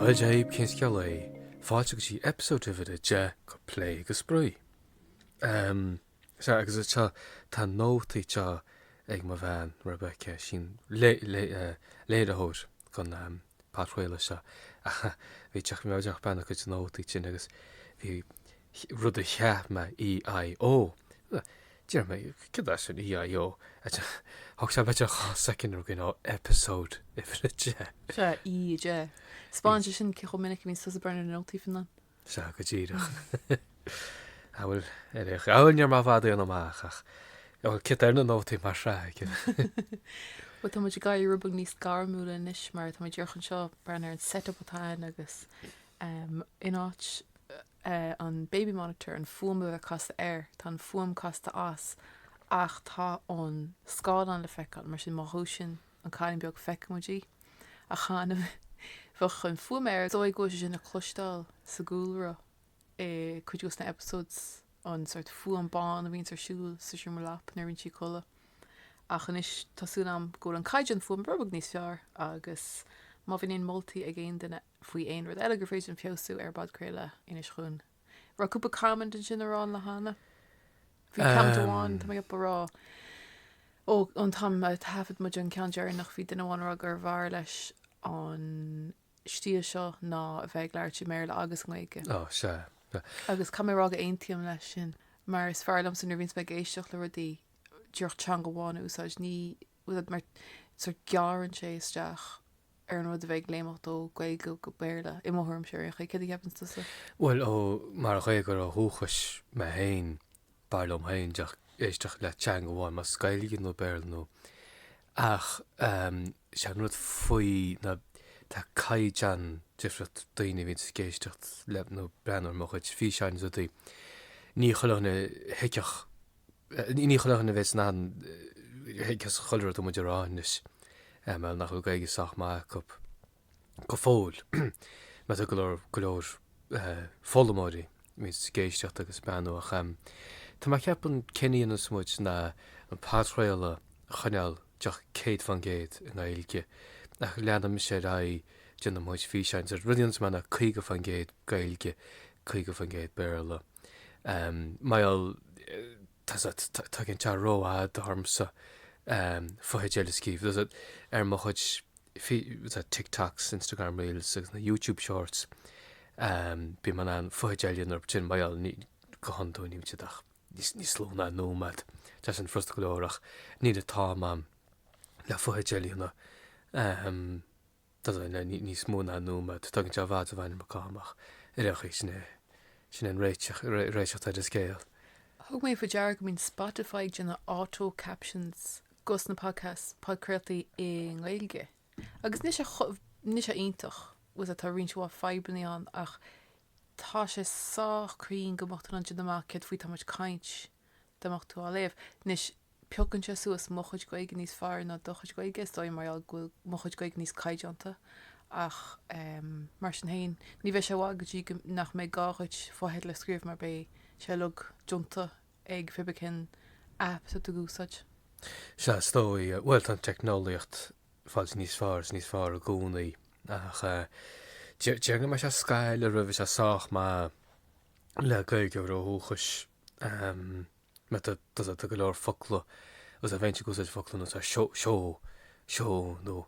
Dia daoibh cén scéal é? Fáilte go dtí episode uimhir a deich go plé go spraoi. Um, so, agus is seo tá nótaí anseo ag mo bhean Rebecca sin lé, lé, uh, léiritheoir an um, podchraoladh seo. Bhí mé díreach ag breathnú ar a cuid nótaí ansin agus bhí rud a chonaic mé EIO. Deirim, cad é sin EIO? Thóg sé b'fhéidir dhá soicind rud ná episode uimhir 10. Sea, E 10. Spáineann sé sin cé chomh minic a bhíonn tusa ag breathnú ar nótaí fiú na. Sea, go díreach. Amhail ar a ghabhail níor mar bhfad é an amach ach bhfuil cit ar na nótaí mar shraith. Bhuel, tá muid ag éirí rud beag níos gairmiúla anois mar tá muid díreach anseo ag breathnú ar an set-up atá ann agus in áit eh, an baby monitor, an fuaim a bheith casta air, tá an fuaim casta as ach tá an scáileán le feiceáil, mar sin má dhúiseann an cailín beag feicfidh muid í. Ach cheana bhíodh an fuaim air, is dóigh go bhfuil sé sin le cloisteáil sa gcúlra i cuid de na episodes, an sórt fuaim bán a bhíonns ar siúl sa seomra leapan nuair a bhíonn sí ag codladh. Ach anois tá súil agam go bhfuil an caighdeán fuaime rud beag níos fearr agus má bhíonn aon moltaí ag aon duine, faoi aon rud eile gur féidir linn feabhsú ar an bpodchraoladh, inis dúinn. Raibh cúpla comment ansin a rá an lá cheana. Bhí comment amháin, tá mé ag rá, ó an t-am a thaifead muid an ceann deireanach, bhí duine amháin ag rá gurbh fhearr leis an stíl seo ná a bheith ag labhairt i mBéarla agus i nGaeilge. Ó, sea. Agus caithfidh mé a rá go n-aontaím leis sin, mar is fearr liomsa nuair a bhíonns mé ag éisteacht le rudaí díreach teanga amháin a úsáid, ní mar sórt gearrann sé isteach ar an rud a bheith ag léimeacht ó Gaeilge go Béarla, i mo thuairimse, ar aon chaoi. Céard a cheapann tusa? Bhuel, ó, mar Ghaeilgeoir ó dhúchas mé féin, b'fhearr liom féin éisteacht le teanga amháin, más Gaeilge nó Béarla nó. Ach sé an rud faoi ná tá caighdeán difriúil ag daoine a bhíonns ag éisteacht le nó breathnú ar mo chuid físeáin is rudaí, ní chuile dhuine a thuigfeadh, Ní chuile dhuine a bheas in ann tuiscint chuile rud atá muid a rá anois eh mar nach bhfuil Gaeilge sách maith acu go fóill mar tá go leor go leor eh foghlaimeoirí a bhíonns ag éisteacht agus ag breathnú ach em tá mé ag ceapadh céard a dhéanfas muid ná an podchraoladh a choinneáil díreach céad faoin gcéad i nGaeilge ach leanfaidh mise ar aghaidh ag déanamh físeáin so rud a dhéanfas mé ná caoga faoin gcéad Gaeilge caoga faoin gcéad Béarla. Mar gheall tá's agat tógann sé rófhada ormsa fotheideil a scríobh tá's agat ar mo chuid TikToks, Instagram Reels agus na YouTube Shorts bím in ann fotheidil a dhéanamh mar gheall go hiondúil níl siad ach níos lú ná nóiméad Tá sé sin furasta go leor ach níl an t-am ann le fotheidil a dhéanamh Tá's agat níos mó ná nóiméad tógann sé i bhfad an iomarca ama. Díreach é, sin é. Sin an réiteach atá ar an scéal. Thug mé faoi deara go mbíonn Spotify ag déanamh auto captions do na podcasts, podchraoltaí i nGaeilge. Agus níl sé chomh, níl sé iontach, bhuel tá roinnt mhaith fadhbannaí ann ach tá sé sách cruinn go bpiocann siad amach céard faoi tá muid ag caint Dá mbeadh tú á léamh. Anois, piocann sé suas mo chuid Gaeilge níos fearr ná do chuid Gaeilge, is dóigh, mar gheall go bhfuil mo chuid Gaeilge níos caighdeánta. Ach, em, mar sin féin, ní bheidh sé i bhfad go dtí go, nach mbeidh gá dhuit fotheidil a scríobh mar beidh sé uilig déanta ag pé bith cén app atá tú ag úsáid. Sea, is dóigh. Bhuel, tá an teicneolaíocht ag fáil níos fearr is níos fearr i gcónaí. Ach eh, déarfainn go mbeidh sé scaitheamh roimh is é sách maith le Gaeilgeoir ó dhúchas. Tá go leor focla tá's agat a bhíonn ag úsáid focla nós seo, seo, seo nó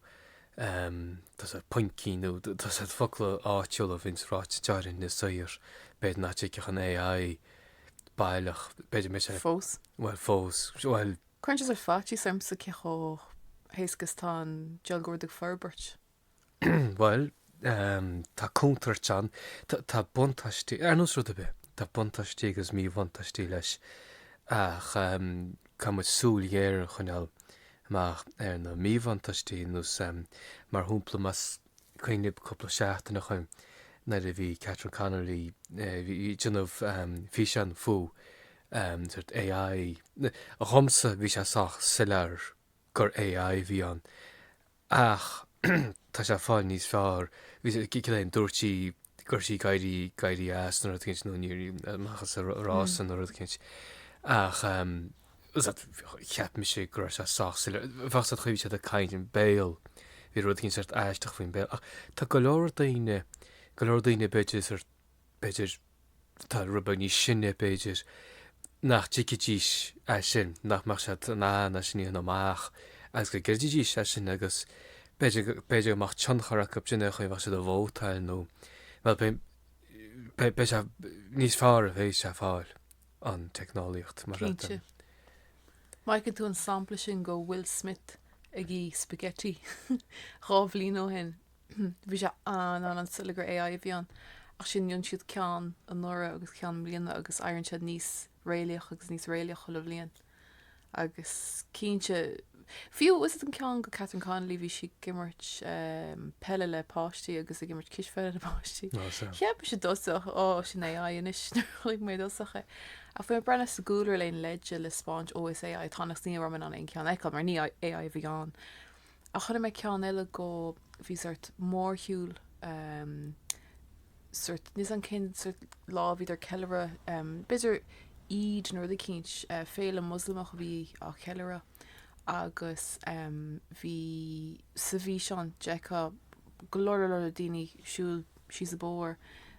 tá's agat poincí nó tá's agat focla áitiúla a bhíonns ráite teáirn le saor b'fhéidir nach dtuigfeadh an AI baileach b'fhéidir mé sé Fós. bhuel fós bhuel Cuireann sé sórt faitíos ormsa cé chomh héasca is tá an dealgóir ag forbairt. Bhuel, tá contúirt ann. Tá buntáistí, ar nós rud ar bith, tá buntáistí agus míbhuntáistí leis. Ach caithfidh muid súil ghéar a choinneáil amach ar na míbhuntáistí, nós mar shampla, más cuimhin libh cúpla seachtain ó shin nuair a bhí Catherine Connolly ag déanamh físeán faoi sórt AI, dhomsa bhí sé sách soiléir gur AI a bhí ann. Ach tá sé fáil níos fearr. Cad é? Dúirt sí go raibh sí ag éirí as nó rud éigin nó amach as a rása nó rud éigin. Ach cheap mise go raibh sé sách soiléir. Tá's agat, an chaoi a raibh sí ag caint, an béal. Bhí rud éigin sórt aisteach faoin béal. Ach tá go leor daoine, go leor daoine b'fhéidir, sórt b'fhéidir, atá rud beag níos sine, b'fhéidir, nach dtuigfidís é sin, nach mbeadh siad in ann é sin a dhéanamh amach agus go gcreidfidís é sin agus b'fhéidir go mbeadh tionchar acu ar cén chaoi, bheadh siad ag vótáil nó, bhuel, sea níos fearr a bheidh sé ag fáil an teicneolaíocht mar sin. Cinnte. Feiceann tú an sampla sin do Will Smith ag ithe spaghetti dhá bhliain ó shin. Bhí sé an-annamh sula gur AI a bhí ann, ach sin déanann siad ceann anuraidh agus ceann i mbliana agus éiríonn siad níos réalaíoch agus níos réalaíoch chuile bhliain. Agus cinnte, fiú, fiú's an ceann de Catherine Connolly bhí sí ag imirt peile le páistí agus ag imirt cispheile le páistí. Cheap mise i dtosach, ó, sin AI anois, nuair a chonaic mé i dtosach é. Ach bhí mé ag breathnú sa gcúlra le aon leide le spáint, ó, is AI atá ann, agus ní raibh mé in ann aon cheann a fheiceáil, mar ní AI a bhí ann. Ach chonaic mé ceann eile go, bhí sórt mórshiúl, em, sórt, níl 's agam cén sórt lá a bhíodar ag ceiliúradh, em, b'fhéidir Eid nó rud eicínt, eh, féile Mhuslamach a bhí á cheiliúradh agus, em, bhí, sa bhfíseán, d'fheicfeá go leor leor leor daoine ag siúl síos an bóthar,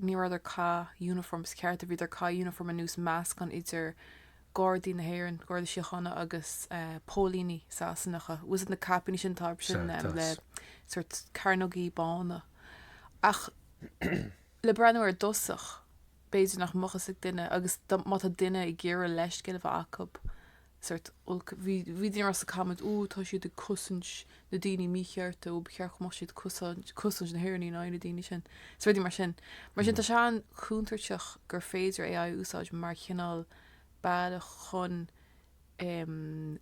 Ní rabhadar ag caitheamh uniforms cearta, bhíodar ag caitheamh uniform ar nós meascán idir Gardaí na hÉireann, Gardaí Síochána agus póilíní Sasanacha. Fiú's na caipíní sin atá sin em le sórt cearnógaí bána. Ach le breathnú air i dtosach, b'fhéidir nach mbeadh a fhios ag duine agus má tá duine ag iarraidh leithscéal a bheith acub, sórt olc. Bhí daoine ag rá sna comments, Ó, tá siad ag cosaint na daoine míchearta, ó, ba cheart go mbeadh siad ag cosaint na hÉireannaigh in aghaidh na daoine sin, is rudaí mar sin. Mar sin, tá sé an-chontúirteach gur féidir AI a úsáid mar chineál bealach chun, em.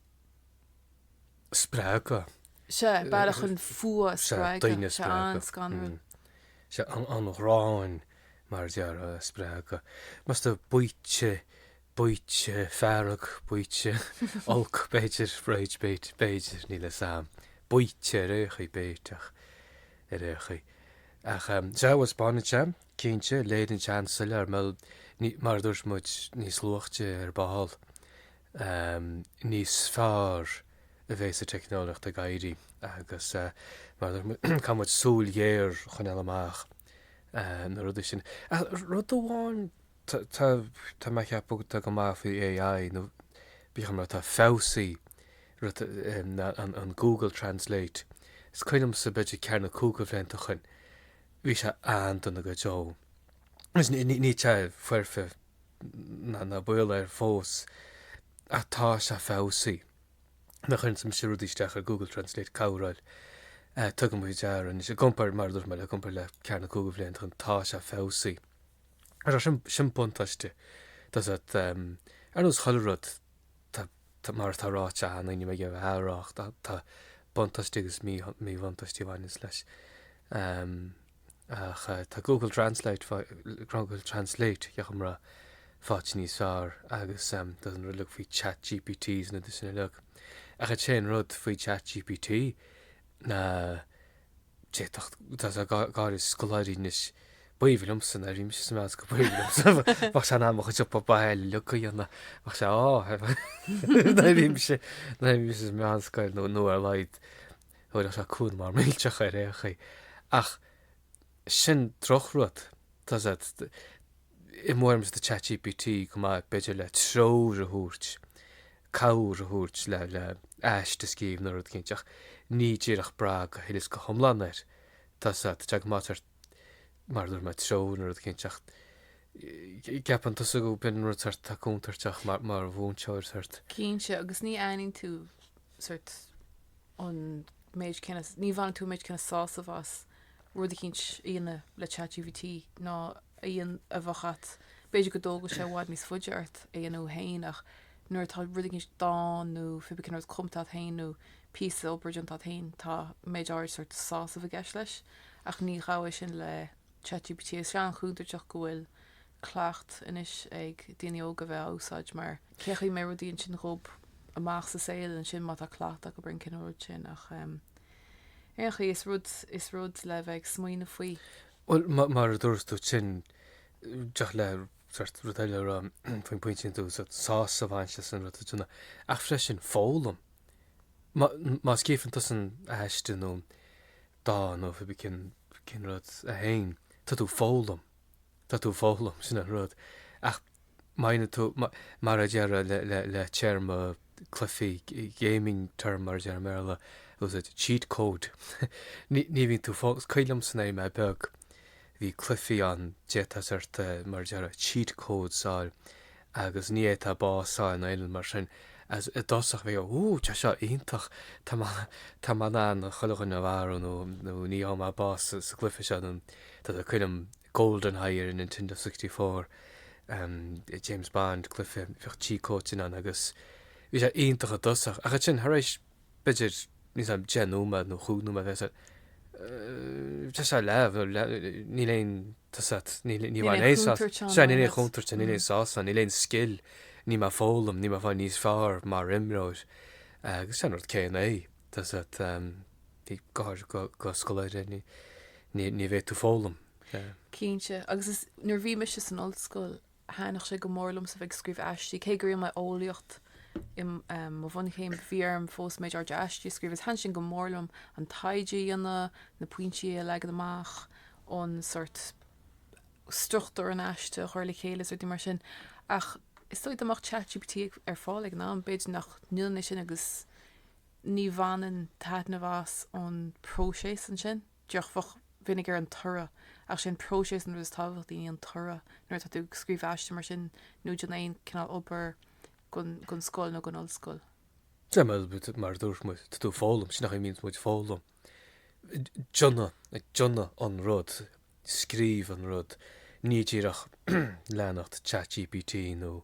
spreagadh. Sea, bealach chun fuath a spreagadh. Sea, daoine a spreagadh. Sea, an-scanrúil. Sea, an ghráin, mar a déarfá, a spreagadh. Más tú baoite Baoite feirge, baoite oilc, b'fhéidir, rage bait, b'fhéidir, níl 'fhios a'm. Baoite ar aon chaoi, baoiteach ar aon chaoi. Ach sea, once upon a time, cinnte, leis an AI, soiléir, mil, ní, mar a dúirt muid, níos luaithe ar ball, níos fearr a bheas an teicneolaíocht ag éirí agus, mar a dúirt muid, caithfidh muid súil ghéar a choinneáil amach do na rudaí sin. Ach rud amháin. Tá, tá mé ag ceapadh atá go maith faoi AI nó b'fhéidir rud atá feabhsaithe, rud, an, an Google Translate. Is cuimhin liomsa b'fhéidir ceathair nó cúig de bhlianta ó shoin, bhí sé an-dona go deo. Anois ní, ní, níl sé foirfe ná, ná baol air fós, ach tá sé feabhsaithe. Nuair a chuirimse rudaí isteach ar Google Translate cabhráil, tugaim faoi deara anois, i gcomparáid, mar a dúirt mé, i gcomparáid le ceathair nó cúig de bhlianta ó shoin, tá sé feabhsaithe. So sin buntáiste, ar nós chuile rud, mar atá ráite againn, níl mé ag iarraidh a rá ach tá buntáistí agus míbhuntáistí a bhaineanns leis. Ach tá Google Translate, Google Translate, tá sé ag fáil níos fearr agus fiú's an rud uilig faoi ChatGPT is na rudaí sin uilig. Ach an t-aon rud faoi ChatGPT ná, D'fhéadfadh, tá sé, gáire, scoláirí anois, b'aoibhinn liomsa ná raibh mise sa mheánscoil, go b'aoibhinn liomsa, bheadh sé in ann mo chuid obair bhaile uilig a dhéanamh, bheadh sé, á, ná raibh mise, ná raibh mise sa mheánscoil nó, nó ar a laghad, thabharfadh sé cúnamh millteach ar ndóigh. Ach sin drochrud, tá sé, Is dóigh liomsa tá ChatGPT go maith, b'fhéidir, le treoir a thabhairt, cabhair a thabhairt le aiste a scríobh nó rud éicint, ach ní díreach brath go huile is go hiomlán air. Tá sé go maith mar, mar a dúirt mé, treoir nó rud éicint, ach ceapann tusa go mbíonn rud sort atá contúirteach mar mhúinteoir sort. Cinnte, agus ní bhaineann tú sort an méid céanna, ní bhaineann tú an méid céanna sásaimh as. Rud éicint a dhéanamh le ChatGPT ná a dhéan a bheadh at. B'fhéidir go dtógfadh sé i bhfad níos faide ort a dhéanamh féin ach nuair atá rud éicint dán nó pé bith cén rud cumta at féin nó píosa obair déanta at féin tá méid áirid sort sásaimh i gceist leis ach ní bhfaighfeá é sin le ChatGPT. Is tá sé an-chontúirteach go bhfuil cleachtadh anois ag daoine óga bheith á úsáid mar cén chaoi a mbeidh rudaí ansin dóibh amach sa saol ansin má tá cleachtadh acu ar an gcineál rud sin ach Aon chaoi, is rud is rud le bheith ag smaoineamh faoi. Bhuel, mar a dúirt tusa ansin, díreach le sort rud eile a rá faoin bpointe sin, tú sásamh a bhaint as an rud a dhéanamh. Ach freisin, foghlaim. Má scríobhann tusa aiste nó dán nó pé bith cén rud é féin, tá tú ag foghlaim. Tá tú ag foghlaim, sin an rud. Ach Maoinigh tú, mar a déarfá le téarma cluifí, gaming term mar a deirtear i mBéarla, was it, cheat code? ní bhíonn tú fós, cuimhin liomsa nuair a bhí mé beag, bhí cluifí ann, d'fhéadfá sort, mar a deir, cheat codes a fháil agus ní fhéadfá bás a fháil nó aon rud mar sin. Is, i dtosach bhí, wú, tá seo iontach, tá mé, tá mé in ann chuile dhuine a mharú nó, nó ní gheobhaidh mé bás sa gcluife seo nó, tá tú, cuimhin liom, GoldenEye ar an Nintendo 64. James Bond, cluife, bheadh cheat code ann agus bhí sé iontach i dtosach. Ach ansin, thar éis, b'fhéidir, níl a fhios agam, deich nóiméad nó chúig nóiméad, bhí sé, bhí sé leamh, níl aon, tá a fhios agat, níl, ní bheidh aon sásamh, sea, níl aon chontúirt ann, níl aon sásamh ann, níl aon scil, níl mé ag foghlaim, níl mé ag fáil níos fearr mar imreoir. Agus is é an rud céanna é, tá a fhios agat, go háirithe do scoláire, ní, ní, ní bheidh tú ag foghlaim. Cinnte, agus nuair a bhí mise san ollscoil thaitin sé go mór liomsa a bheith ag scríobh aistí, cé go ndearna mé eolaíocht i mo bhunchéim, bhí orm fós méid áirithe aistí a scríobh agus thaitin sin go mór liom an taighde a dhéanamh, na pointí a leagan amach, an sórt struchtúr an aiste a chur le chéile is rudaí mar sin. Ach is dóigh dá mbeadh chatgpt ar fáil ag an am, b'fhéidir nach ndéanfainn é sin agus ní bhainfinn taitneamh as ón próiseas ansin. Díreach ag breathnú ar an toradh, ach is é an próiseas an rud is tábhachtaí, ní an toradh, nuair atá tú ag scríobh aiste mar sin nó ag déanamh aon chineál obair don scoil nó don ollscoil. Le, mar a dúirt muid, tá tú ag foghlaim, sin an chaoi a mbíonn muid ag foghlaim, ag déanamh, ag déanamh an rud, ag scríobh an rud, ní díreach ag leanacht chatgpt nó.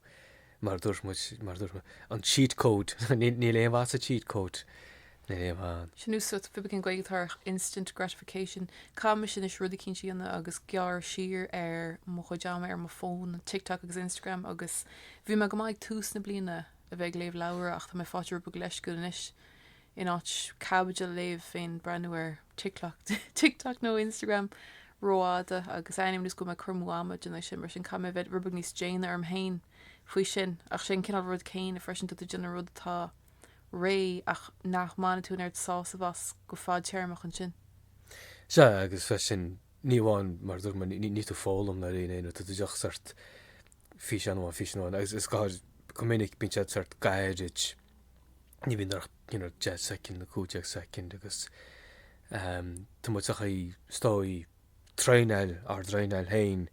Mar a dúirt muid, mar a dúirt mé, an cheat code, níl aon mhaith sa cheat code riamh ann. Sin úsat, fibigin Gaeilge ar, instant gratification. Caithfidh mise anois rud eicínt a dhéanamh agus gearradh siar ar mo chuid ama ar mo fón, ar TikTok agus Instagram agus bhí mé go maith ag tús na bliana a bheith ag léamh leabhra ach tá mé ag fáil rud beag leisciúil anois. in áit caibidil a léamh bím ag breathnú ar TikTok nó Instagram rófhada agus tá a fhios agam gur cur amú ama atá ansin mar sin caithfidh mé a bheith rud beag níos déine orm féin faoi sin ach is é an cineál rud céanna freisin tá tú ag déanamh rud atá réidh ach nach mbainfidh tú an oiread sásaimh as go fadtéarmach ansin. Sea agus freisin ní amháin mar a dúirt mé níl tú ag foghlaim aon rud tá tú díreach sórt físeán amháin, físeán amháin, agus go minic bíonn siad sórt gairid, ní bhíonn nach you know, 10 soicind nó 15 soicind agus um, tá muid sa chaoi is go bhfuil muid ag traenáil, ár dtraenáil féin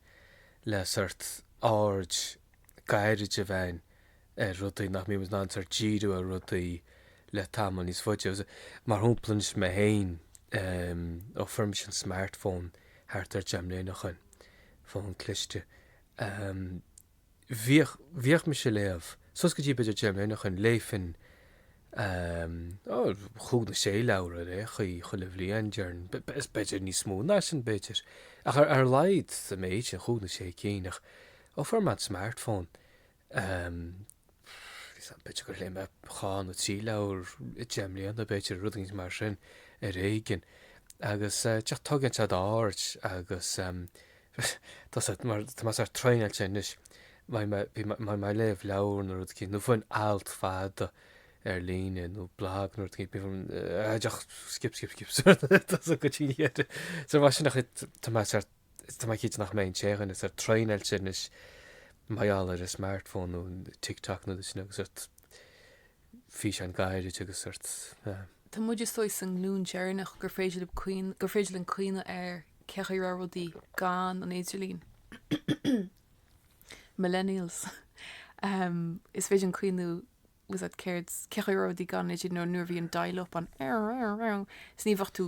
le sórt aird ghairid a bheith ar rudaí nach mbímid in ann sórt díriú ar rudaí le tamall níos faide. Agus Mar shampla anois mé féin, um, ó fuair mise an smartphone thart ar 10 mbliana ó shoin, fón cliste, Ahem. Bhíodh, bhíodh mise a' léamh, suas go dtí b'fhéidir deich mbliana ó shoin, léifinn, ahem, ó, chúig nó sé leabhar ar aon chaoi, chuile bhliain, déarfainn, b'fhéidir níos mó ná sin, b'fhéidir, ach ar a laghad, an méid sin, chúig nó sé cinn, ach, ó, fuair mé an smartphone, b'fhéidir gur léigh mé dhá nó trí leabhar i deich mbliana, b'fhéidir, rud éigin mar sin, ar éigean. Agus tugaim faoi deara agus tá sórt, tá mé sórt traenáilte anois, mar bhím ag léamh leabhar nó rud éigin, nó fiú amháin alt fada ar líne nó blag nó rud éigin, bím díreach skip, skip, skip, tá a fhios agat. So mar sin tá mé sórt Tá mé cinnte nach mbeidh an t-inchinn sórt traenáilte anois mar gheall ar an smartphone nó an TikTok nó sin agus sórt físeáin gairid agus sórt eh, Tá muid is dóigh sa nglún deireanach gur féidir linn cuimh, gur féidir linn cuimhneamh ar cén chaoi a raibh rudaí gan an idirlín. Millennials. Um, is féidir linn cuimhneamh tá fhios a'd céard cén chaoi a raibh rudaí gan idir nó nuair a bhí an dial up ann is ní bheadh tú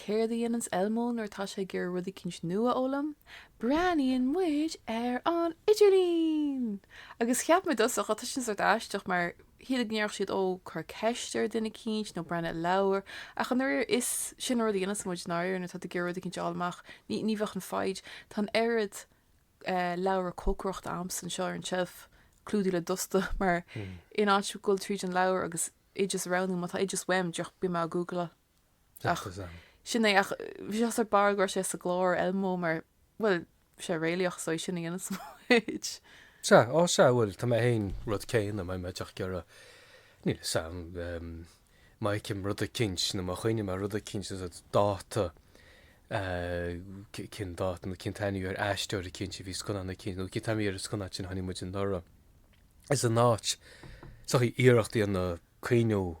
Céard a dhéananns Elmo nuair atá sé ag iarraidh rud eicínt nua a fhoghlaim? Breathnaíonn muid ar an idirlíon! Agus cheap mé i dtosach, á, tá sin sórt aisteach, mar shílfeá go ndéarfadh siad, ó, cuir ceist ar dhuine eicínt, nó breathnaigh i leabhar. Ach i ndáiríre, is sin an rud a dhéananns muid, i ndáiríre, nuair atá tú ag iarraidh rud eicínt a fháil amach. Ní, ní bheadh an foighid. Tá an oiread eh, leabhra cócaireachta a'msa anseo ar an tseilf, clúdaithe le dusta, mar in áit dhul tríd an leabhar agus oideas a roghnú, má tá oideas uaim, díreach, beidh mé á Ghoogleáil. Ach sin é, ach bhí sé thar barr go raibh sé sa gclár Elmo mar, bhuel, bhí sé réalaíoch so é sin a dhéananns muid. Sea, á sea, bhuel, tá mé fhéin an rud céanna, má tá mé díreach ag iarraidh, níl fhios a'm, má fheicim rud eicínt nó má chuimhním ar rud eicínt sórt dáta, cén dáta nó cén t-ainm ar aisteoir eicínt a bhí sa scannán eicínt nó cén t-ainm ar an scannán sin a chonaic muid anuraidh, is in áit, sórt iarracht a dhéanamh cuimhneamh.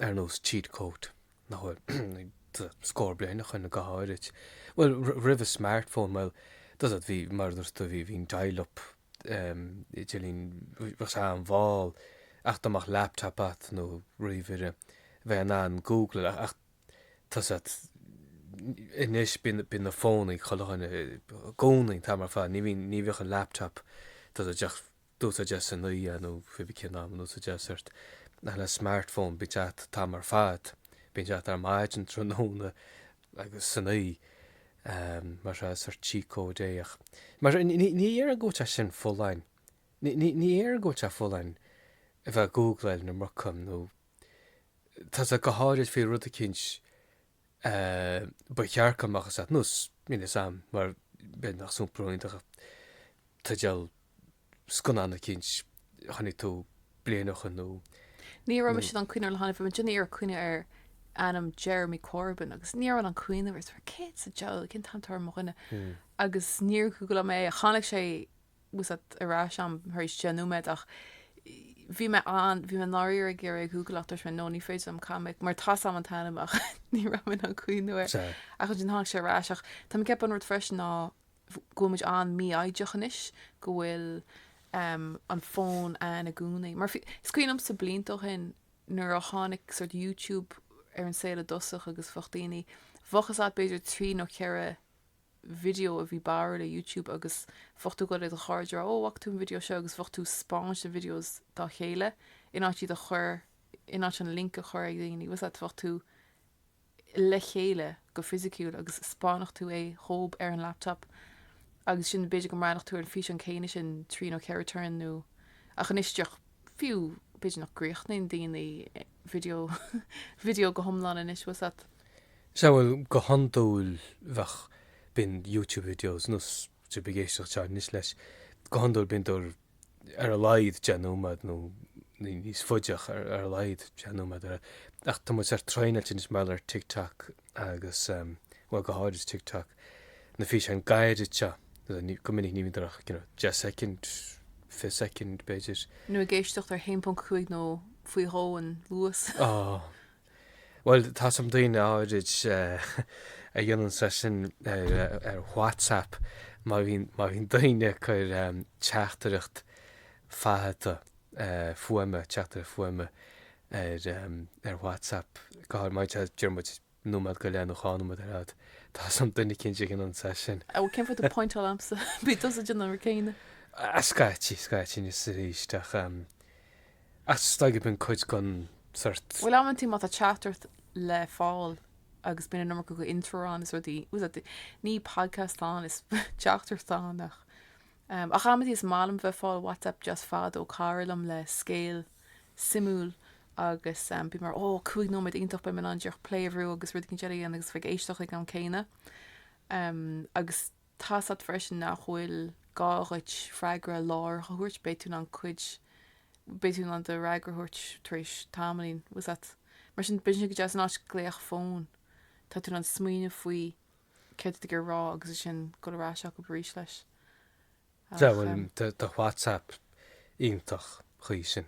ar nós cheat code, nach bhfuil a'd scór bliain ó shin nó go háirid, bhuel, roimh an smartphone, bhuel, tá fhios a'd, bhí, mar a dúirt tú, bhí, bhí an dial up, idirlíon, bheadh sé an-mhall ach dá mbeadh laptop agat nó ríomhaire, bheifeá in ann Googleáil, ach tá fhios a'd, anois bíonn, bíonn an fón i gcúl do chinn, i gcónaí, an t-am ar fad, ní bhíonn, ní bheadh an laptop, tá fhios a'd, ach. in úsáid a'd san oíche nó pé bí cén t-am in úsáid a'd sórt le smart phone bíonn sé agat an t-am ar fad, bíonn sé agat ar maidin, tráthnóna agus san oíche mar is sórt cheat code é ach mar ní ní dhéarfainn go bhfuil sé sin folláin, ní ní ní dhéarfainn go bhfuil sé folláin a bheith ag gúgláil na mBrocan nó tá fhios a'd go háirid faoi rud eicínt Ba cheart go mbeadh fhios a'd nós níl fhios a'm mar a bheadh nach sampla iontach teideal scannán eicínt a chonaic tú bliain ó shin nó. Ní raibh mise in ann cuimhneamh le gairid, bhí mé ag déanamh iarracht cuimhneamh ar ainm Jeremy Corbyn agus ní raibh mé in ann cuimhneamh, is céard sa diabhal, cén t-ainm atá ar mo dhuine? Agus níor Ghooglaigh mé é ach tháinig sé Tá fhios a'd ar ais a'm tar éis deich nóiméad ach bhí mé an, bhí mé ndáiríre ag iarraidh é a Ghoogle ach dúirt mé no ní féidir liom Cormac mar tá fhios a'm an t-ainm ach ní raibh mé in ann cuimhneamh air ach ansin tháinig sé ar ais ach tá mé ag ceapadh an rud freisin ná go bhfuil muid an-mhífhoighdeach anois go bhfuil um, an fón ann i gcónaí mar is cuimhin liomsa blianta ó shin nuair a tháinig sórt YouTube ar an saol i dtosach agus bheadh daoine bheadh, tá fhios a'd, b'fhéidir trí nó ceithre video a bhí báire le YouTube agus bheadh tú ag gabháil ag do chairde a rá ó bhfaca tú an video seo agus bheadh tú spáint na videos dá chéile in áit iad a chur in áit an link a chur ag daoine 's a't bheadh tú le chéile go fisiciúil agus spáinfeadh tú é dhób ar an laptop agus sin b'fhéidir go mbreathnfadh tú ar an físeán céanna sin trí nó ceithre turn inniu ach anois díreach fiú b'fhéidir nach gcríochnaíonn daoine video video go hiomlán anois 's a't. Sea, bhuel, go hiondúil bheadh, bíonn YouTube videos, má tá sibh ag éisteacht seo anois leis, go hiondúil bíonn siad ar a laghad, 10 nóiméad nó níos faide ach ar a laghad 10 nóiméad ar fhad. Ach tá muid sórt traenáilte anois mar gheall ar TikTok agus, bhuel, go háirid TikTok, na físeáin gairid seo, go minic ní bhíonn siad ach, you know, 10 soicind, 20 soicind, b'fhéidir. nó ag éisteacht ar 1.5 nó faoi dhó an luas. Á! Bhuel, tá's a'm daoine áirid a dhéananns é sin ar WhatsApp má bhíonn daoine ag cur teachtaireacht teachta fuaime, teachtaireacht fuaime ar WhatsApp, go háirid má tá siad b'fhéidir nóiméad go leith nó dhá nóiméad ar fhad, tá's a'm duine cinnte a dhéananns é sin. Á, cén fáth a bhfuil tú ag pointeáil ormsa? Bíonn tusa ag déanamh an rud céanna. Scaití, scaití, anois arís ach. Ach staighfidh an cuid gan sort. Bhuel amann tú má tá teachtaireacht le fáil agus bíonn an iomarca de intro ann is rudaí 's a't ní podcast atá ann is teachtaireacht atá ann ach ehm ach amann tú is maith liom bheith fáil whatsapp just fad ó chara liom le scéal suimiúil agus ehm bím mar ó cúig nóiméad iontach beidh mé in ann díreach play a bhrú agus rud éicint eile a dhéanamh agus bheith ag éisteacht ag an am céanna ehm agus Tá's a't freisin nach bhfuil gá dhuit freagra láithreach a thabhairt, beidh tú in ann cuid, beidh tú in ann do fhreagra a thabhairt tar éis tamaillín, bhfuil 's a't. Mar sin, bíonn sé go deas in áit glaoch fóin, tá tú in ann smaoineamh faoi céard atá tú ag dul a rá agus ansin dul ar ais acub aríst leis. Ach. Bhuel, tá WhatsApp iontach chuige sin.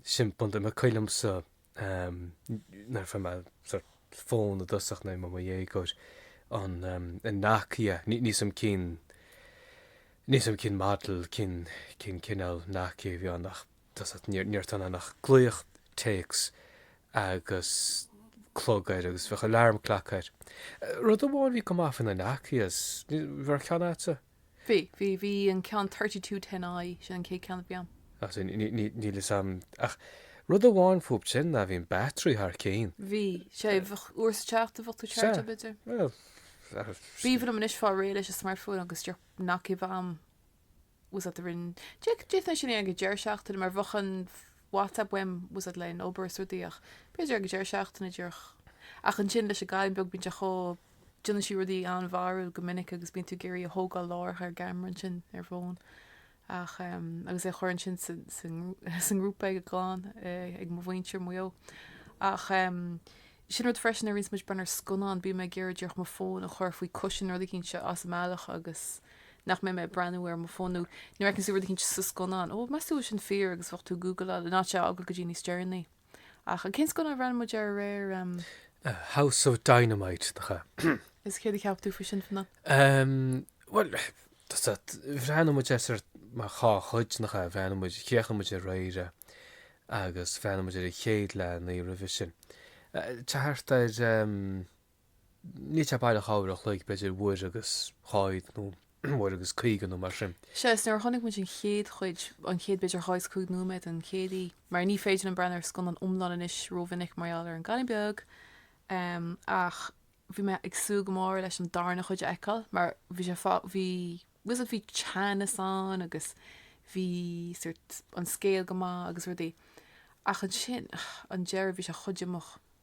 Sin pointe, coilm sa. Nuair a fuair mise fón i dtosach nuair a bhí mé i mo dhéagóir an Nokia. Níl's a'm cén, níl's a'm cén model, cén, cén cineál Nokia a bhí ann ach tá's a't ní raibh tada ann ach glaoch, téacs agus clog air agus bheadh alarm clock air. Rud amháin a bhí go maith faoi na Nokias, bhí ceann agatsa? Bhí, bhí, bhí an ceann thirty two ten I, sin an chéad ceann a bhí a'm. Ach ní, ní, ní, níl fhios a'm, ach rud amháin fúb sin ná bhí an battery thar cinn. Bhí, sé, bheadh uair sa tseachtain bheadh tú Sea, chargeáil iad. bhuel, bheadh. Ba bhreá liom anois fáil réidh leis an smartphone agus díreach Nokia a bheith a'm 's a't the rin, deir, deir mé sin é ag an deireadh seachtaine mar bheadh an WhatsApp uaim 's a't leis an obair is rudaí ach b'fhéidir ag an deireadh seachtaine díreach ach ansin leis an gcailín beag bíonn sé chomh Déanann sí rudaí an-bharrúil go minic agus bíonn tú ag iarraidh é a thógáil láithreach ar an gceamara ansin ar an bhfón ach agus é a chur ansin sa ngrúpa ag an gclann ag mo mhuintir Maigh Eo. Ach sin rud freisin nuair a bhíonns muid ag breathnú ar scannán bím ag iarraidh díreach mo fón a chur faoi cúisín nó rud eicínt as an mbealach agus nach mbeidh mé ag breathnú ar mo fón nó nuair a fheiceanns tú rud eicínt sa scannán. Ó, meas tú go bhfuil sin fíor agus bheadh tú ag gúgláil in áit é a fhágáil go dtí níos deireanaí. Ach an cén scannán a bhreathnaigh muid air aréir em. House of Dynamite nach ea. Is céard a cheap tú faoi sin fanna? Em, bhuel, was that, bhreathnaigh muid air sórt mar dhá chuid nach ea, bhreathnaigh muid, chríochnaigh muid aréir é agus bhreathnaigh muid ar an chéad leath, an oíche roimhe sin. Eh, thart ar em. níl sé baileach dhá uair a chloig, b'fhéidir uair agus ceathracha nó uair agus caoga nó mar sin. Sea, is nuair a chonaic muid an chéad chuid, an chéad bhféidir ceathracha cúig nóiméad an chéad oíche, mar ní féidir liom breathnú ar scannán iomlán anois rómhinic mar gheall ar an gcailín beag, em, ach bhí mé ag súil go mór leis an darna chuid a fheiceáil mar bhí sé fá, bhí, was it, bhí teannas ann agus bhí sórt, an scéal go maith agus rudaí. Ach ansin, an deireadh, bhí sé chomh díomách.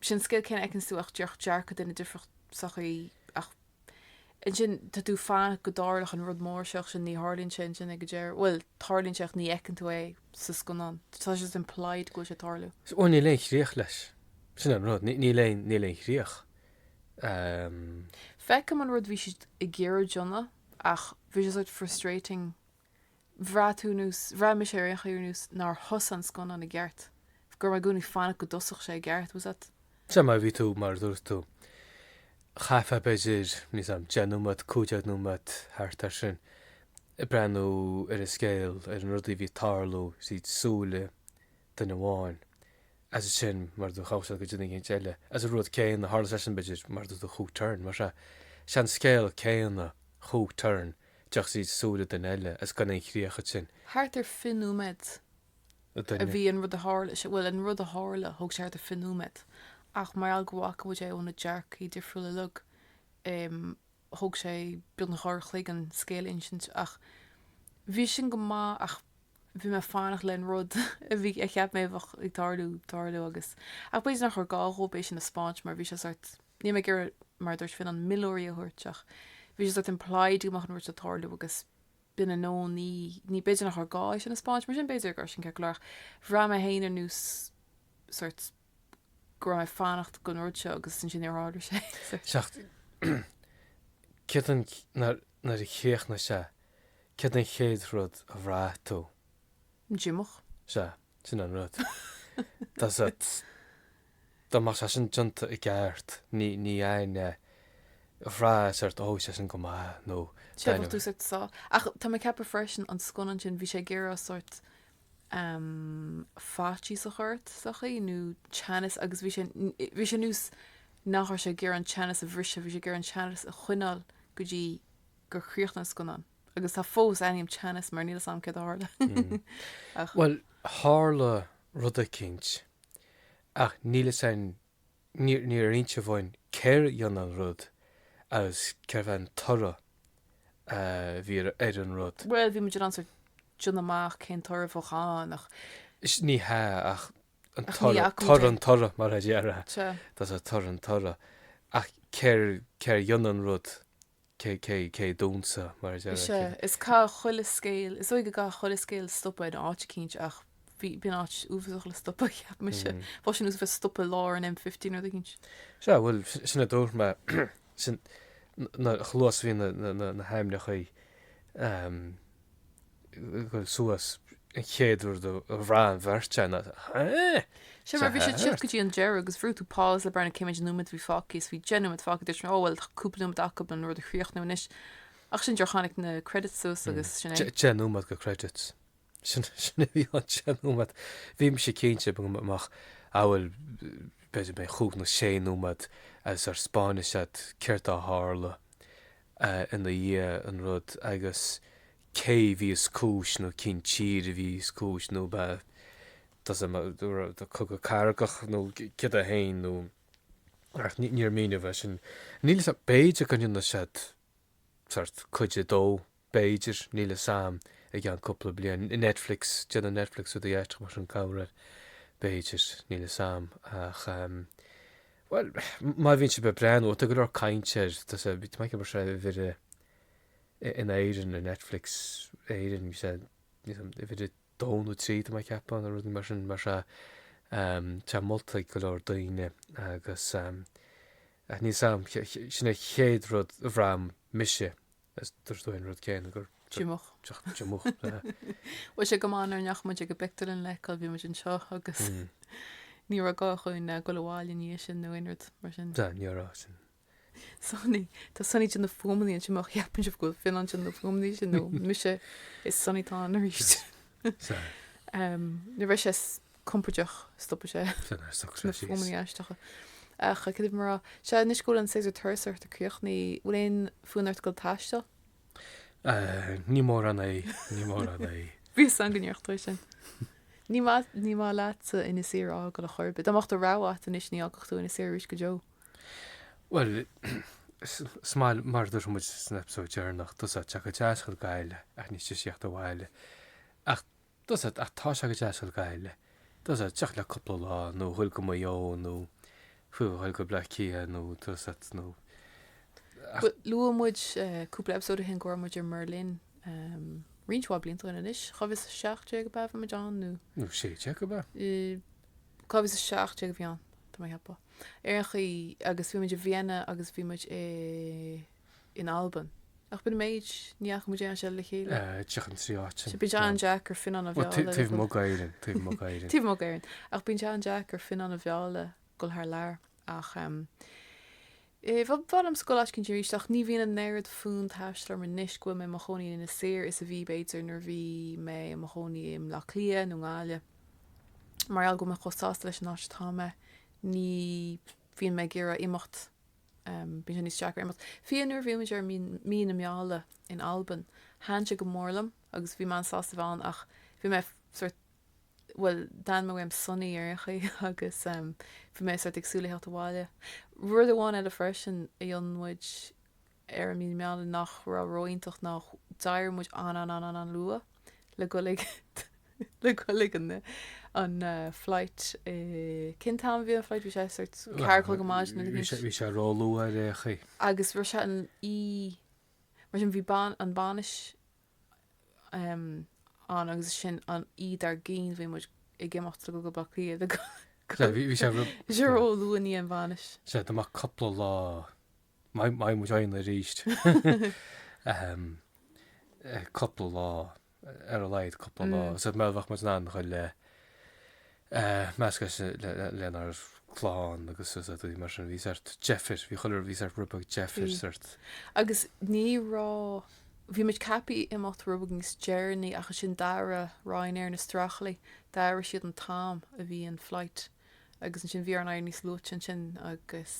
sin scéal céanna feiceann tú ach trí dearcadh duine difriúil sa gcaoi ach ansin tá tú ag fanacht go dtarlódh an rud mór seo ach ansin ní tharlaíonn sé ansin ag an deireadh bhuel tarlaíonn sé ach ní fheiceann tú é sa scannán tá sé implied go bhfuil sé ag tarlú. Bhuel níl aon chríoch leis sin an rud níl aon níl aon chríoch ehm. Feicim an rud a bhí siad ag iarraidh a dhéanamh ach bhí sé sórt frustrating Bhraith tú nó bhraith mise ar aon chaoi ar nós nár thosaigh an scannán i gceart, go raibh mé i gcónaí ag fanacht go dtosódh sé i gceart, was that. Sea, mar a bhí tú, mar a dúirt tú, chaithfeá b'fhéidir, níl a fhios agam, deich nóiméad, cúig dhéag nóiméad, thart air sin, ag breathnú ar an scéal, ar na rudaí a bhí ag tarlú tríd súile duine amháin, agus ansin, mar a dúirt tú, ghabh sé go dtí duine éigin eile, agus an rud céanna a tharla leis-sean, b'fhéidir, mar a dúirt tú, comhthreomhar, mar sin an scéal céanna, comhthreomhar. ach trí súile duine eile is gan aon chríoch ansin. thart ar fiche nóiméad a duine. bhí an rud a tharla sé, bhuel, an rud a tharla, thóg sé thart ar fiche nóiméad, ach mar gheall go bhfaca muid é ó na dearcthaí difriúla uilig, em, thóg sé beagnach dhá uair an chloig an scéal a insint ach bhí sin go maith ach. bhí mé ag fanacht leis an rud a bhí, a cheap mé a bheadh ag tarlú, tarlú agus, ach b'fhéidir nach raibh gá dhóibh é sin a 'speáint mar bhí sé sórt, níl mé ag iarraidh mar a dúirt Finn aon milleoirí a thabhairt ach bhí sé sórt implied go mbeadh an rud seo ag tarlú agus b'in é nó ní, ní, b'fhéidir nach raibh gá é sin a 'speáint mar sin b'fhéidir go raibh sin ceart go leor ach bhraith mé féin ar nós sórt go raibh mé ag fanacht leis an rud seo agus ansin níor tharla sé. Céard an, nuair a chríochnaigh sé, céard an chéad rud a bhraith tú? Díomách. Sea, sin an rud. Tá sé, dá mbeadh sé sin déanta i gceart, ní, ní bhraithfeá sórt, ó, bhí sé sin go maith nó, bhfuil a fhios a'd, sórt. Ach tá mé ag ceapadh freisin an scannán sin, bhí sé ag iarraidh sórt, em, faitíos a chur ort sa chaoi, nó teannas agus bhí sé, bhí sé níos, nach raibh sé ag iarraidh an teannas a bhriseadh, bhí sé ag iarraidh an teannas a choinneáil go dtí gur chríochnaigh an scannán. Agus tá fós ionam teannas mar níl fhios agam céard a tharla. Ach. Bhuel, tharla rud eicínt ach níl fhios a'inn Níor inseadh dhúinn cé a rinne an rud agus céard é an toradh a bhí ar an rud. Bhuel, bhí muid in ann sórt déanamh amach cén toradh a bheadh ann ach. Ní hea ach an toradh, toradh an toradh mar a déarfá. Tá sé, toradh an toradh. Ach cé a rinne an rud? cé cé cé dúnta, mar a deir Is ea, cé. is caithfidh chuile scéal, is dóigh go gcaithfidh chuile scéal stopadh in áit eicínt ach b'in áit uafásach le stopadh, cheap mise. Mm. Bheadh sé ar nós stopadh i lár an M50 nó rud eicínt. Sea, bhuel, sin a dúirt mé, chomh luath is a bhí na, na, na, na hainmneachaí um, dhul suas an chéad rud a bhraith an bheirt againn ná, Hé! Sea, mar bhí sé ag teacht go dtí an deireadh agus bhrúigh tú pause le breathnú cé mhéad nóiméad a bhí fágtha is bhí deich nóiméad fágtha, dúirt mé, Ó, bhuel, tá cúpla nóiméad acu leis an rud a chríochnú anois. Ach ansin díreach tháinig na credits suas agus sin é. Deich nóiméad de credits. Sin a bhí sa deich nóiméad. Bhí mise cinnte go mbeadh abair b'fhéidir cúig nó sé nóiméad agus go spáinfeadh siad céard a tharla. ina dhiaidh an rud agus cé bhí is cúis nó cén tír a bhí is cúis nó ba, tá a fhios a'd, cogadh cathartha nó céard é féin nó ach níor míníodh é sin. Níl fhios a'm, b'fhéidir go ndéanfaidh siad sórt cuid a dó. B'fhéidir, níl fhios a'm, i gceann cúpla bliain. Netflix, déanann Netflix rudaí aisteach mar sin corruair. B'fhéidir, níl fhios a'm. Ach, bhuel, má bhíonn sé popular nó má tá go leor cainte air, tá a fhios a'd, bhí sé tamall mar sin uimhir a haon in Éirinn ar Netflix Éireann, bhí sé, níl fhios a'm, uimhir 2 nó 3, tá mé ag ceapadh, nó rudaí mar sin, mar sin tá sé molta ag go leor daoine agus, ach níl fhios a'm, sin an chéad rud a bhraith mise Is dúirt tú an rud céanna díomách. Díomách. Bhuel, bhí sé go maith nach ndeachaigh muid ag an bpictiúrlann lena fheiceáil, bhí muid anseo agus ní raibh gá dhúinn eh, dul abhaile an oíche sin nó aon rud mar sin. Tá, ní raibh raibh sin. Sonny, Tá Sonny ag déanamh fuaimeannaí anseo má cheapann sibh gurb é Fionn atá ag déanamh na fuaimeannaí sin nó mise is é Sonny atá ann arís. Sa. Em, Nuair bheidh sé s- compordach, stopfaidh sé sé fuaimeanna aisteacha. Ach cad é mar atá, sea, anois go bhfuil an séasúr turasóireachta críochnaithe, bhfuil aon fhonn ort a ghoil ag taisteal? Níl mórán, níl mórán. Bhí a fhios agam go ndéarfadh tú sin. Ní maith, ní maith leatsa Inis Oírr a fhágáil chor ar bith. Dá mbeadh do rogha agat anois ní fhágfadh tú Inis Oírr arís go deo. Bhuel, is maith, mar a dúirt muid san eipeasóid deireanach, tusa ag teacht go deas chun Gaillimh, ach níos deise ag teacht abhaile. Ach. Tá's agat, ach tá sé go deas le goil le, tá's agat, teacht le cúpla lá nó a dhul go Maigh Eo nó fiú a dhul go Bleá Cliath nó tá's agat nó, ach. Luaigh muid cúpla eipeasóid ó shin go raibh muid i mBerlin roinnt mhaith blianta ó shin anois, dhá mhíle is a 17 ab ea a bhí muid ann nó. Nó 16 ab ea? Dhá mhíle is a 17 a bhí ann, tá mé ag ceapadh. Ar aon chaoi agus bhí muid i Vienna agus bhí muid i in Albain. Ach b'in an méid. Ní fhaca muid aon áit eile le chéile. Seachas na trí áit. Sea, bíonn sé an-deacair Fionnán a mhealladh le dhul. Taobh amuigh d'Éirinn, taobh amuigh d'Éirinn. Taobh amuigh d'Éirinn. Ach bíonn sé an-deacair Fionnán a mhealladh le dhul thar lear. Ach eh. bhuel, b'fhearr liom a ghoil áit eicínt arís. Ach ní bhíonn an oiread d'fhonn taistil orm anois go bhfuil mé i mo chónaí in Inis Oírr is a bhí, b'fhéidir, nuair a bhí mé i mo chónaí i mBleá Cliath nó i nGaillimh. Mar gheall go bhfuil mé chomh sásta leis an áit atá mé, ní bhíonn mé ag iarraidh imeacht. Bíonn sé níos deacra imeacht. Fiú nuair a bhí muid ar mí na meala in Albain, thaitn sé go mór liom agus bhí mé an sásta bheith ann ach bhí mé sort bhuel dhéan mé, tháim sona ar aon chaoi agus bhí mé sort ag súil le theacht abhaile. Rud amháin eile freisin a rinne muid ar an mí na meala nach raibh ró-iontach ná d'éirigh muid an-an-an-an-an luath le goil ag le goil ag an an flight cén t-am a bhí an flight bhí sé sort ceathair a chlog ar maidin nó bhí sé bhí sé róluath ar aon chaoi. agus bhí sé an oíche mar sin bhí ban an bainis um, ann agus ansin an oíche dár gcionn bhí muid ag imeacht le goil go Bleá Cliath le go- Sea, bhí bhí sé bhí sé róluath i ndiaidh an bhainis. sea ba mhaith cupla lá Dá mbeadh muid ann arís cúpla lá ar a laghad cúpla lá sa mbealach go mbeadh muid in ann a dhul le meascadh lenár clann agus daoine mar sin a bhí sort deifir, bhí chuile bhí sort rud beag deifir sort. Agus ní raibh, bhí muid ceaptha imeacht rud beag níos deireanaí ach ansin d'athraigh Ryanair na strachlaí, d'athraigh siad an t-am a bhí an flight. Agus ansin bhí orainn éirí níos luaithe ansin agus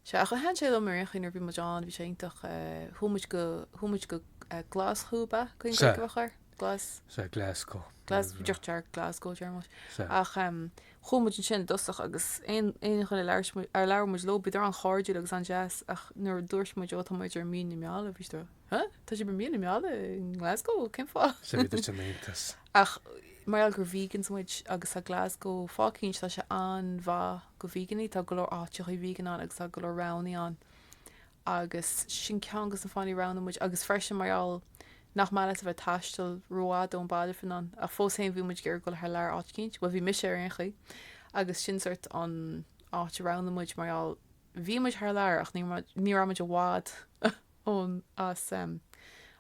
sea, ach thaitin sé liom ar aon chaoi nuair a bhí muid ann, bhí sé iontach, chuaigh muid go, chuaigh muid go Glaschú ab ea? Cén Ghaeilge ba chóir? Glas? Sea, Glasgow. Glas, bhuel deirtear Glasgow déarfaidh muid. Sea. Ach chuaigh muid ansin i dtosach agus aon, aon duine a labhair muid, ar labhair muid leo, bhíodar an-chairdiúil agus an-deas ach nuair a dúirt muid, ó tá muid ar mhí na meala, bhí siad a. Ha? Tá sé ba mí na meala i nGlasgow, cén fáth? Is é a dúirt an Aontas. Ach mar gheall gur vegans muid agus tá Glasgow fáth eicínt tá sé an-mhaith do veganaigh, tá go leor áiteachaí vegan ann agus tá go leor roghannaí ann agus sin ceann de na fáthannaí a roghnaigh muid agus freisin mar gheall nach maith leat a bheith ag taisteal rófhada ón mbaile fin ann ach fós féin bhí muid ag iarraidh goil thar lear áit eicínt, bhuel bhí mise ar aon chaoi agus sin sórt an áit a roghnaigh muid mar gheall bhí muid thar lear ach ní raibh muid i bhfad ann as, em,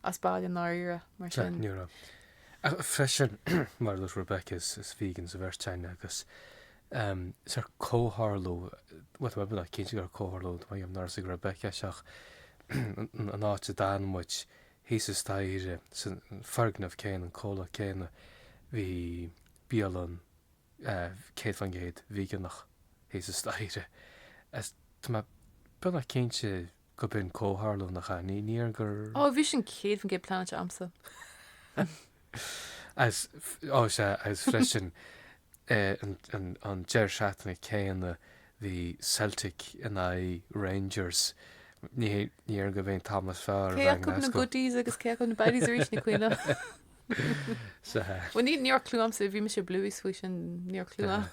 as baile i ndáiríre, mar Tá, sin. ní raibh. Ach freisin, mar a dúirt Rebecca, is, is vegans an bheirt againn agus, em, is ar comhtharlú, bhuel, tá mé beagnach cinnte gur comhtharlú, ní raibh a fhios ag Rebecca, is ach an, an áit a d'fhan muid, thíos staighre, san foirgneamh céanna, an comhlacht céanna, bhí bialann, eh, céad faoin gcéad veganach thíos staighre. Is tá mé beagnach cinnte. Go mba comhtharlú na gcamhnaí, níor gur. Ó, bhí sin 100% pleanáilte a'msa. As, ó, sea, as freisin, an deireadh seachtaine céanna, bhí Celtic in aghaidh Rangers. Ní hé, ní raibh aon time níos fearr a Cé bheith in acu na Glasgow. goodies agus cé acu na baddies arís, Nic Mhaoileoin? Sea. Bhuel, ní, ní raibh clue a'msa, bhí mise clueless faoi sin, ní raibh clue a'm.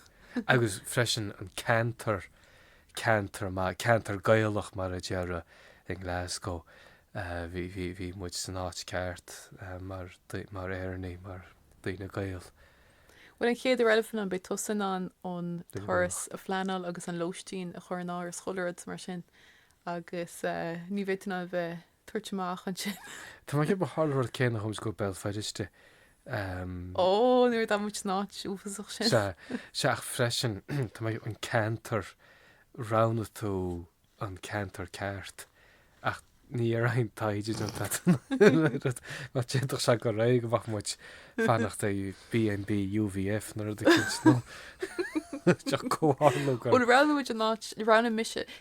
Agus freisin an ceantar, ceantar maith, ceantar Gaelach mar a déarfá i nGlasgow, bhí muid san áit ceart mar Éireannaigh, mar daoine Gael. Bhuel, an chéad uair eile, fan, beidh tusa in ann an turas a phleanáil agus an lóistín a chur in áirithe, chuile rud mar sin agus ní bheidh tú in ann a bheith, tabhairt amach ansin. Tá mé ag ceapadh mar tharla an rud céanna chuaigh mise go Béal Feirste. Ó, nuair a d'fhan muid san áit uafásach sin. Sea, sea ach freisin tá mé ag ceapadh an ceantar, roghnaigh tú an ceantar ceart ach ní raibh aon taighde déanta a'd, d'fhéadfadh sé go réidh go mbeadh muid ag fanacht i BNB UVF nó rud eicínt nó. Ach comhtharlú go. Bhuel roghnaigh muid an áit roghnaigh mise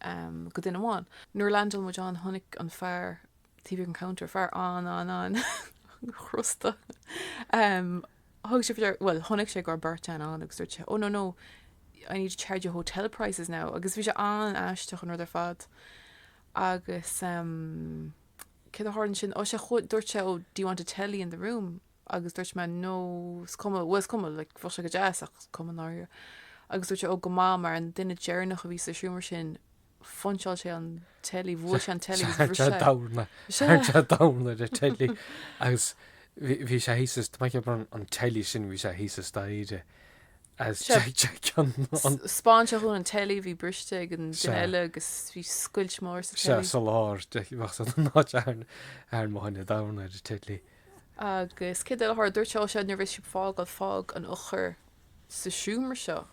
am do dhuine amháin. Nuair a leaindeáil muid ann, chonaic an fear a bhí ag an counter, fear an-an-an-chrosta. Am, thug sé faoi deara, bhuel, chonaic sé go raibh beirt fhear ann agus dúirt sé, oh, no, no, I need to charge you hotel prices now. Agus bhí sé an-aisteach an rud ar fad. Agus am, céard a tharla ansin? Oh, sé, dúirt sé, oh, do you want a telly in the room? Agus dúirt mé, No, is cuma, bhuel, is cuma, like, bheadh sé go deas, ach is cuma i ndáiríre. Agus dúirt sé, Ó, go maith, mar an duine deireanach a bhí sa seomra sin, phuinseáil sé an teilí, bhuail sé an teilí agus bhris sé. We're down a, we're down a teilí. Agus bhí sé thíos, is, tá mé ag ceapadh, an teilí sin, bhí sé thíos staighre as Seo. Jay Jay ceann an. 'Spáin sé dúinn an teilí, bhí briste ag an Sea. duine eile agus bhí scoilt mhór sa Sea, teilí. sa lár, de, bheadh sé don áit arn, arn mo thine domhan ar an teilí. Agus céard eile a tharla, dúirt sé, ó sea, nuair a bheas sibh ag fágáil, fág an eochair sa seomra seo,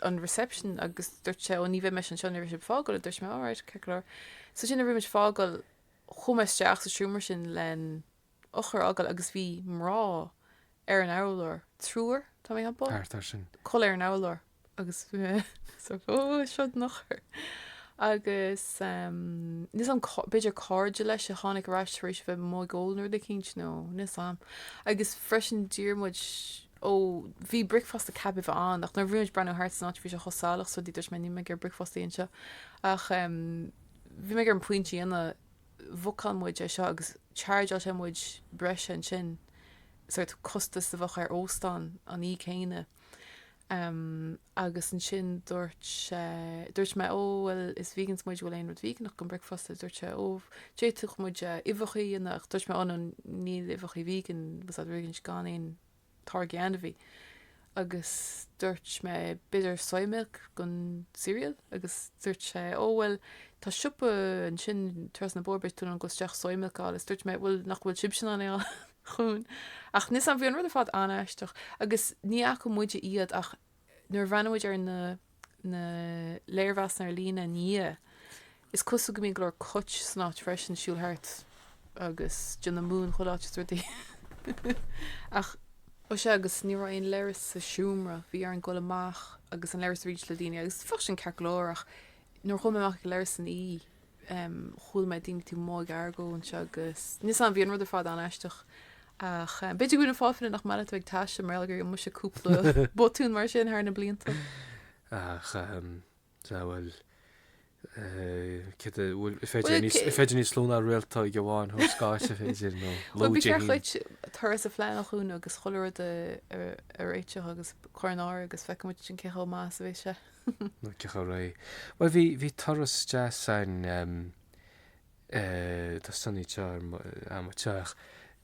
an reception, agus dúirt sé, ó ní bheidh mise anseo, nuair a bheas sibh ag fágáil, a dúirt mé, alright, ceart go leor. So sea, nuair a bhí muid ag fágáil, chuaigh mé isteach sa seomra sin len. Eochair a fhágáil agus bhí mná ar an urlár, triúr, tá mé ag ceapadh, ina gcodladh ar an urlár agus bhí mé sort seod an eochair. Agus níl 's 'am, b'fhéidir cairde leis a tháinig ar ais tar éis a bheith amuigh ag ól nó rud eicínt nó níl 's 'am. Agus freisin d'iarr muid, ó, bhí bricfeasta ceaptha a bheith ann ach nuair a bhí muid ag breathnú thart san áit bhí sé chomh salach so dúirt mé níl mé ag iarraidh bricfeasta anseo ach bhí mé ag iarraidh an pointe a dhéanamh bhookáil muid é seo agus chargeáil sé muid breise ansin, sort costas a bheadh ar óstán an oíche céanna. Agus ansin dúirt sé, dúirt mé, ó bhuel is vegans muid, an bhfuil aon rud veigeánach don bricfeasta? Dúirt sé, ó, d'fhéadfadh muid uibheacha a dhéanamh ach dúirt mé, oh no níl uibheacha vegan, was that really, gan aon, táirgí ainmhí agus dúirt mé b'fhéidir soy milk don cereal agus dúirt sé ó bhuel tá siopa ansin trasna an bhóthair beidh tú in ann dul isteach soy milk a fháil is dúirt mé bhuel nach bhfuil sibhse in ann é a dhéanamh ach níl 's 'am bhí an rud ar fad an-aisteach agus ní fhaca muide iad ach Nuair a bhreathnaigh muid ar na na léirmheasanna ar líne ina dhiaidh, is cosúil go mbíonn go leor coit san áit freisin, siúl thart agus déanamh múin chuile áit is rudaí. Ach. Ó sea, agus ní raibh aon leithreas sa seomra, bhí orainn dul amach agus an leithreas a roinnt le daoine agus bheadh sin ceart go leor ach nuair a chuaigh mé amach ag an leithreas san E, Chuala mé daoine taobh amuigh ag argóint agus níl 's 'am bhí an rud ar fad an-aisteach ach b'fhéidir gur shin é an fáth eile nach maith leat a bheith ag taisteal mar gheall gur rinne mise cúpla botún mar sin thar na blianta. Ach sea bhuel cad bhfuil is féidir níos is féidir níos lú ná réaltóg amháin a thabhairt d'áit a féidir nó lú Bhí sé an chéad turas a phleanáil dúinn agus chuile rud a réiteach agus cur in áirithe agus feicfidh muid ansin cé chomh maith is a bheidh sé. Nó ceathrar a ré. Bhuel, bhí, bhí turas deas ann, ehm, eh, tá sunny teo ar mo, eh, mo teach,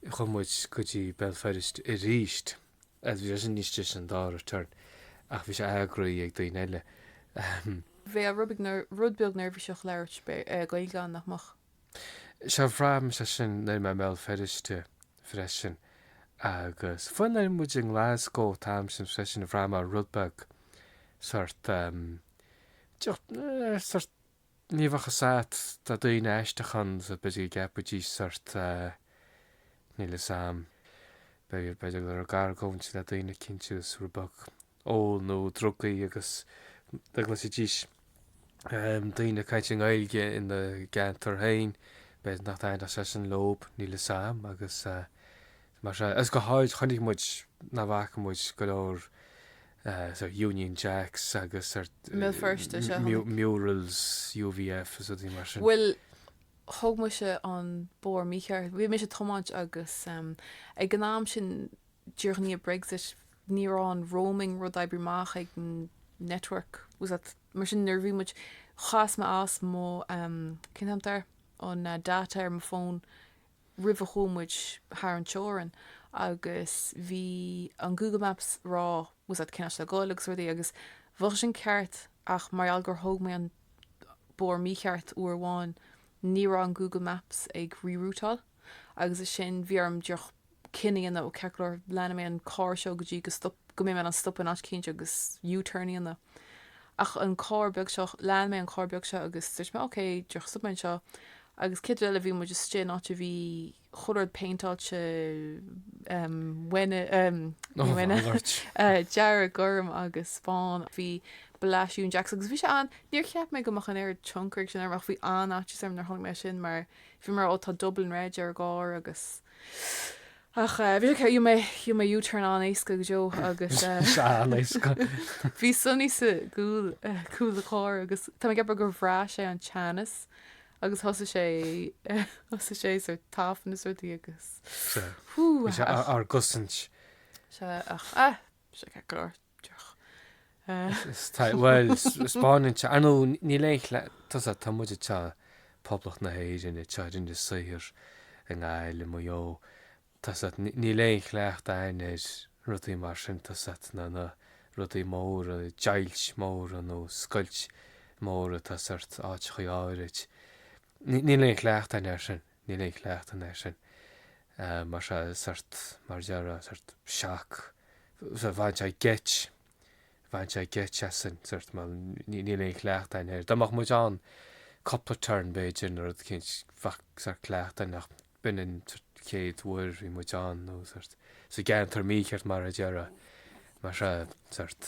chuaigh muid go dtí Béal Feirste arís. Eh, bhí sé sin níos deise an dara turn, ach bhí sé eagraithe ag daoine eile, ehm. Bheadh rud beag ner, rud beag neirbhíseach labhairt, eh, Gaeilge ann, nach mbeadh? Sea, bhraith mise sin nuair a bhí mé i mBéal Feirste. freisin. Agus fiú nuair a bhí muid i nGlasgow an t-am sin freisin, bhraith mé rud beag sort ehm, deoch, eh, sort, ní bheadh a fhios a'd, tá daoine aisteach ann so b'fhéidir go gceapfaidís sort eh, níl 'fhios a'm, b'fhéidir, b'fhéidir go raibh ag argóint le duine eicínt so rud beag, ól nó drugaí agus dá gcloisfidís daoine ag caint i nGaeilge ina gceantar féin, b'fhéidir nach dtaitneodh sé sin leob, níl 'fhios a'm, agus mar sin, agus go háirid chonaic muid, nach bhfaca muid go leor Union Jacks agus i mBéal Feirste, sea, chonaic. murals UVF is rudaí mar sin. Bhuel, thóg mise an bóthar mícheart, bhí mise ag tiomáint agus ag an am sin, Díreach i ndiaidh Brexit, ní raibh an roaming rud oibrithe amach ag an network or whatever, mar sin nuair a bhí muid, chas mé as mo, cén t-ainm air, an data ar mo fón roimh a chuaigh muid thar an teorainn agus bhí an Google Maps ag rá or whatever cén áit le dhul agus rudaí agus bheadh sin ceart ach mar gheall gur thóg mé an bóthar mícheart uair amháin, ní raibh an Google Maps ag re-routeáil. agus ansin bhí orm just cinneadh a dhéanamh ó cén chaoi, lean mé an cor seo go dtí go stop go mbeidh mé in ann stop in áit éicint agus U-turn a dhéanamh ach an cor beag seo lean mé an cor beag seo agus dúirt mé ok just stopfaidh mé anseo agus an chéad rud eile bhí muid istigh in áit a bhí chuile rud péinteáilte dearg, gorm agus bán, bhí bleedin' Union Jacks agus bhí an níor cheap mé go mbeadh aon tionchar aige sin orm ach bhí an áit seo, nuair a chonaic mé sin mar a Bhí mé, ó tá Dublin reg ar an gcarr agus ach bhí sé céad, rinne mé U-turn an-éasca go deo agus bhí Sonny sa gcúl cúl an chairr agus tá mé ag rá gur bhraith sé an teannas agus thosaigh sé thosaigh sé sórt ag tafann is rudaí agus hú ach bhí sé dár gcosaint. Sea ach ah bhí sé ceart go leor. Bhuel, 'speáineann sé. Ar ndóigh, níl aon chleas, tá's a'd, tá muid anseo i Poblacht na hÉireann, anseo ag déanamh saothar, i nGaillimh, i Maigh Eo, tá's a'd, níl aon chleacht a'ainn ar rudaí mar sin, tá's a'd, na, na rudaí móra, deighilt móra nó scoilt móra atá sórt, áiteachaí áirid. Níl aon chleachtadh a'ainn air sin. Níl aon chleachtadh againn air sin. Mar sin, sórt, mar a déarfá, sórt shock. Bhain sé geit, bhain sé geit asainn, sórt, bhuel, níl aon chleachtadh againn air. Dá mbeadh muid ann cúpla turn, b'fhéidir, nó rud éicint, bheadh, sórt, cleachtadh againn ach b'in an, sórt, chéad uair a bhí muid ann nó, sórt, sa gceantar mícheart, mar a déarfá. Mar sea, sórt.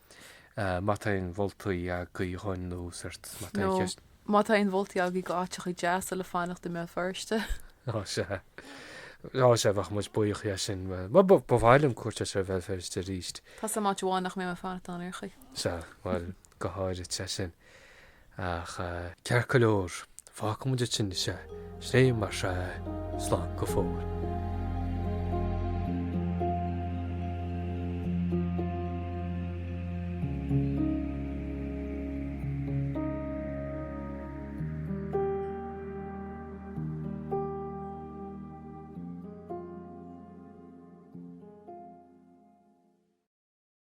Má tá aon mholtaí agaibh dhúinn nó sort, má tá aon nó cheist. má tá aon mholtaí agaibh go áiteacha deasa le fanacht i mBéal Feirste. Ó, sea. Ó, sea, bheadh muid buíoch as sin. Bhuel, ba, ba mhaith liom cuairt a thabhairt ar Bhéal Feirste arís. Tá's a'm áit amháin nach mbeidh mé ag fanacht ann ar aon chaoi. Sea, bhuel, go háirithe, sea sin. Ach ceart go leor, fágfaidh muid sin sa tslí mar seo é. Slán go fóill.